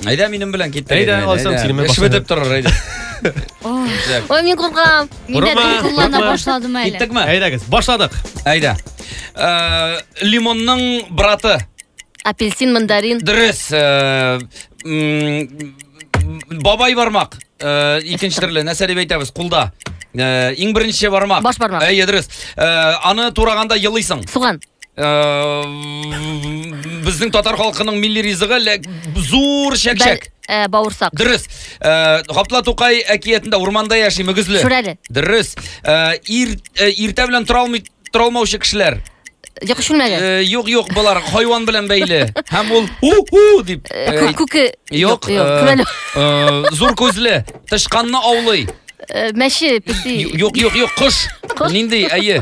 Әйдә минем белән кит. Әйдә, алсам синең белән башына. Шведеп торыр әйдә. Ой, мин куркам. Мин дә Курыкма, куллана курыкма. башладым әле. Киттекме? Әйдәгез, башладык. Әйдә. Э, Лимонның браты. Апельсин, мандарин. Дөрес. э, м, Бабай бармак. Э, Икенче төрле нәрсә дип әйтәбез? Кулда. Э, Иң беренче бармак. Баш бармак. Әйе, дөрес. Э, Аны тураганда елыйсың. Суган. Безнең татар халкының милли ризыгы ләк зур чәкчәк. Э, бауырсак. Дөрес. Э, Гапла Тукай әкиятендә урманда яши мөгезле. Шүрәле. Дөрес. Э, ир иртә белән тора алмый тора алмаучы кешеләр. Йокы шүрмәле. Юк, юк, болар хайван белән бәйле. Һәм ул у-у дип. Күке. Юк, күрәле. Зур күзле, тышканны аулый. Мәче, песи. Юк, юк, юк, кош. Нинди, әйе.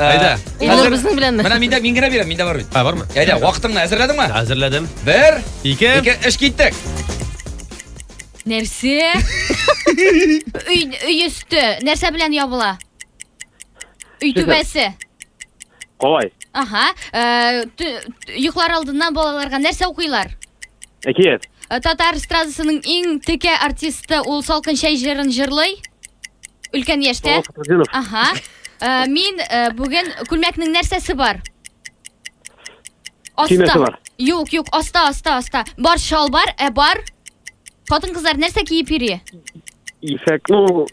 Әйдә. Илнур безнең белән. Менә миндә мин генә бирәм, миндә бар бит. Ә бармы? Әйдә, вакытыңны әзерләдеңме? Әзерләдем. Бер, ике, ике, эш киттек. Нәрсә? Өй өй өсте нәрсә белән ябыла? Өй түбәсе. Калай. Ага. Э, йоклар алдыннан балаларга нәрсә укыйлар? Әкият. Э, татар эстрадасының иң текә артисты ул Салкын чәй җырын җырлый. Өлкән яшьтә. Ага. Э, мин э, бүген күлмәкнең нәрсәсе бар? Аста. бар. Юк, юк, аста, аста, аста. Бар шал бар, ә бар. Хатын-кызлар нәрсә киеп йөри? Исәк, ну,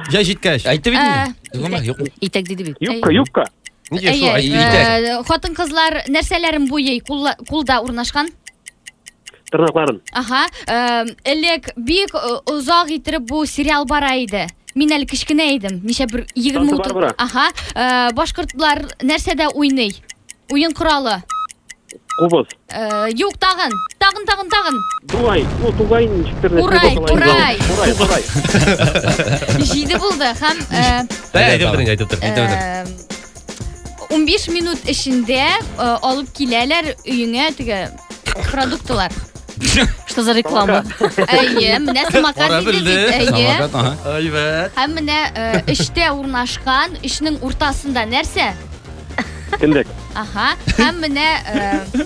Җай җиткәч. Әйтеп инде. Э, Юкмы, юкмы? Итәк диде бит. юбка, юбка. Нигә шулай? Әйтеп. Хатын-кызлар нәрсәләрен буйый кулда урнашкан? тырнакларын. Аха, элек бик озак иттереп бу сериал бара иде. Мин әле кечкенә идем. Ничә бер 20 утыр. Аха, башкортлар нәрсәдә уйный? Уен коралы. Кубыз. Юк, тагын. Тагын, тагын, тагын. Дуай, ну дуай ничектер. Урай, урай. Урай, урай. Җиде булды һәм Әйтеп торыйк, әйтеп торыйк, әйтеп торыйк. 15 минут эчендә алып киләләр өеңә теге Продуктылар. Что за реклама? Әйе, менә самокат Кара диде белде. бит. Әйе. Самокат, ага. Әйбәт. Һәм менә э, эчтә урнашкан, эчнең уртасында нәрсә? Кендек. Аха. Һәм менә э,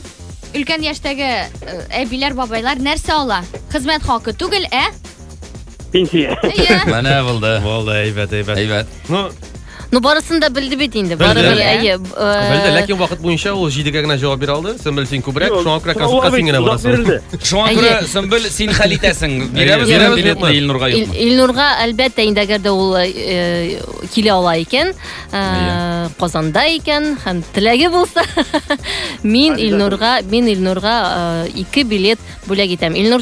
өлкән яшьтәге э, әбиләр, бабайлар нәрсә ала? Хезмәт хакы түгел, ә? Пенсия. Әйе. Менә булды. Булды, әйбәт, әйбәт. Әйбәт. Ну, Ну, барысын да белде бит инде. Белде. Барыбер, Иә. әйе. б- э, Белде, ләкин вакыт буенча ул җидегә генә җавап бирә алды. Сөмбел син күбрәк, Юк, шуңа күрә сораулар консультка син бит генә озак барасың. бирелде. Шуңа Әйе. күрә, Сөмбел, син хәл итәсең. Бирәбез Әйе, бирәбез, билетны билетны. Илнурга Ил- юкмы? Илнурга, әлбәттә, инде әгәр дә ул э, килә ала икән, э, Казанда икән һәм теләге булса, мин Илнурга, мин Илнурга э, ике билет бүләк итәм. Илнур,